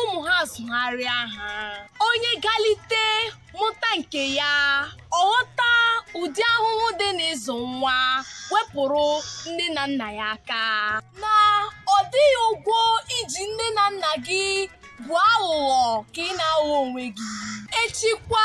ụmụ ha zụgharịa ha onye galite mụta nke ya ọ ghọta ụdị ahụhụ dị n'ịzụ nwa wepụrụ nne na nna ya aka na ọ dịghị ụgwọ i ji nne na nna gị bụ aghụghọ ka ị na-aghọ onwe gị echikwa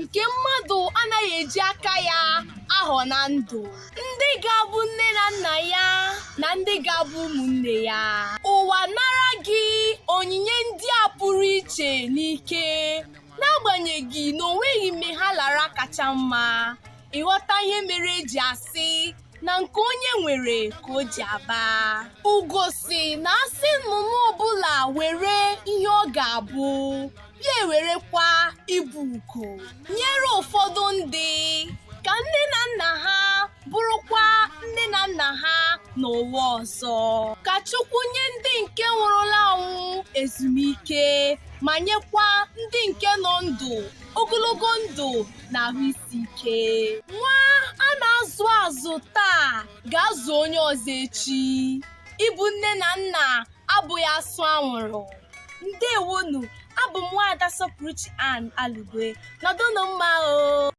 nke mmadụ anaghị eji aka ya ahọ na ndụ ndị ga-abụ nne na nna ya na ndị ga-abụ ụmụnne ya ụwa nara gị onyinye ndị a pụrụ iche n'ike n'agbanyeghị na o nweghị mgbe ha lara kacha mma ị ghọta ihe mere e ji asị na nke onye nwere ka o ji aba ugo sị na a sị nnụnụ ọbụla were ihe ọ ga-abụ ya ewerekwa ịbụ ugo nyere ụfọdụ ndị ka nne na nna ha bụrụkwa nne na nna ha n'ụwa ọzọ ka Chukwu nye ndị nke nwụrụla anwụ ezumike ma nyekwa ndị nke nọ ndụ ogologo ndụ na ahụ isi ike nwa a na-azụ azụ taa ga-azụ onye ọzọ echi ịbụ nne na nna abụghị asụ anwụrụ ndewonu abụ m nwaada sọpụrụchi ann alugwe nọdụnụ mma o